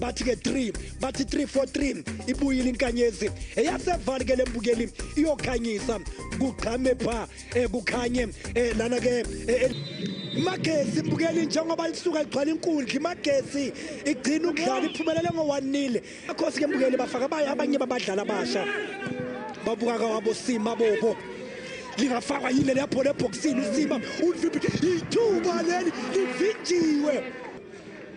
bathi ke 3 bathi 343 ibuyile inkanyezi eyasevali ke lembukeli iyokhanyisa kugqame pha eh, kukhanye eh, lana ke eh, imagesi mbukeli njengoba lisuka ligcwala inkundla imagesi igcina ukudlala iphumelele ngowanile akhosi ke mbukeli bafaka abaye abanye babadlali abasha babuka kawabo sima bobo lingafakwa yile lapho lebhoksini usima ulivimbi ithuba leli livinjiwe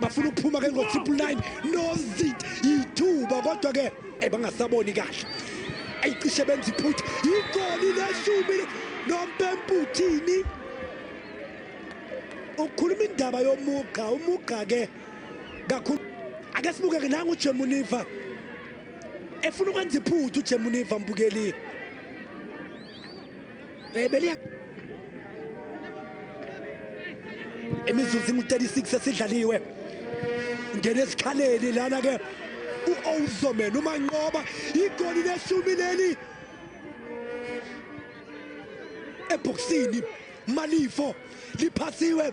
bafuna ukuphuma ke ngo-triple nine nozit yithuba kodwa ke eh, bangasaboni kahle ayicishe benza iphutha yigoli leshumi nompemputhini ukukhuluma indaba yomugqa umugqa ke kakhulu ake sibuke ke nangu Jemuniva efuna ukwenza iphuthu Jemuniva mbukeli Bebeliya imizuzu ingu-36 esidlaliwe ngena esikhaleni lana ke u-owuzomen umanqoba igoli leshumi leli ebhokisini malifo liphasiwe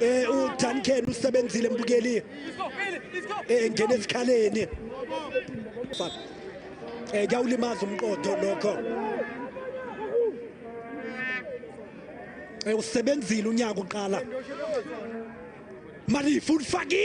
eh uTanken usebenzile mbukeli eh ngene esikhaleni eh kuyawulimaza umqodo lokho eh usebenzile unyaka uqala mali futhi faki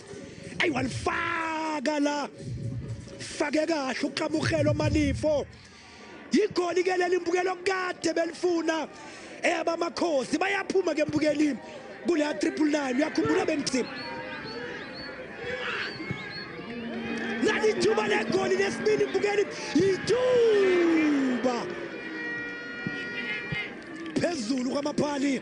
ayi walifaka la fake kahle uqamukhelo malifo yigoli ke leli mbukelo kade belifuna eyaba amakhosi bayaphuma ke mbukelini kule ya 999 uyakhumbula bengithini nalithuba legoli lesibili mbukeli yithuba phezulu kwamaphali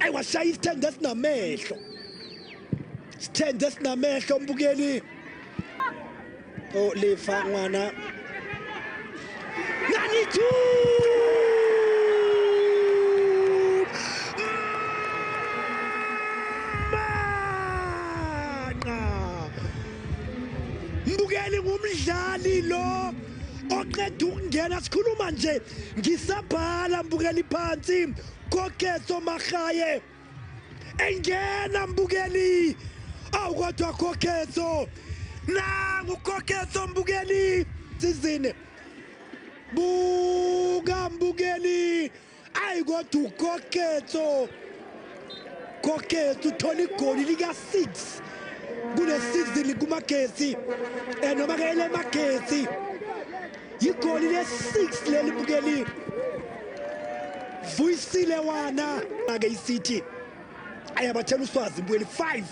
ayi washaya isithende esinamehlo sithende esinamehlo umbukeli olifa oh, ngwana nanithu mbukeli ngumdlali lo oqeda ukungena sikhuluma nje ngisabhala mbukeli phansi Koketso Magaye engena mbukeli awu kodwa Koketso nangu Koketso mbukeli sizini buka mbukeli ayi kodwa uKoketso Koketso uthola igoli lika 6 kule season kumagetsi eh noma ke elemagetsi yigoli le-6 leli bukeli vuyisile wana ake isithi ayabathela uswazi bukeli 5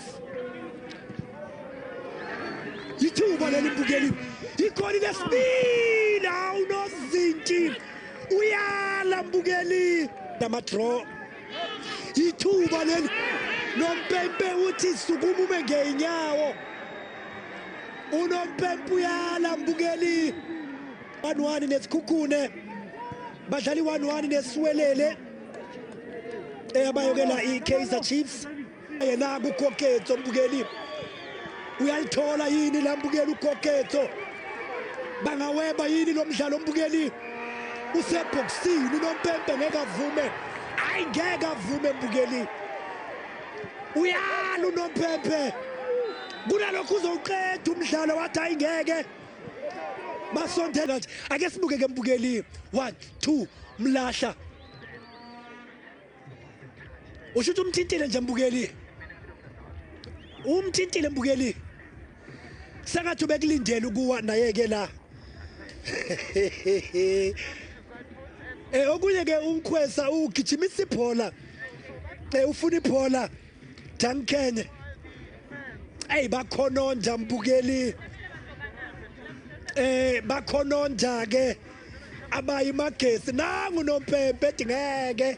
yithuba leli bukeli yigoli lesibili hawu nozinti uyala mbukeli namadraw ithuba leli nompempe uthi sukumume ngeyinyawo unompempe uyala mbukeli 1-1 nesikhukhune badlali 1-1 nesiwelele eyabayokela i-kaizer chiefs yena kukoketso mbukeli uyalithola yini la mbukeli ukoketso bangaweba yini lo mdlalo mbukeli usebhokisini unompempe ngeke avume ayi ngeke avume mbukeli uyala unompempe kunalokho uzowuqeda umdlalo wathi ayi ngeke basondela nje ake sibuke ke mbukeli 1 2 mlahla usho ukuthi umthintile nje mbukeli umthintile mbukeli sengathi ubekulindele ukuwa naye-ke la eh okunye ke umkhwesa ugijimisa ibhola eh ufuna ibhola Dankene hey bakhononda mbukeli eh bakhononda ke abayi magesi nangu nompempe edingeke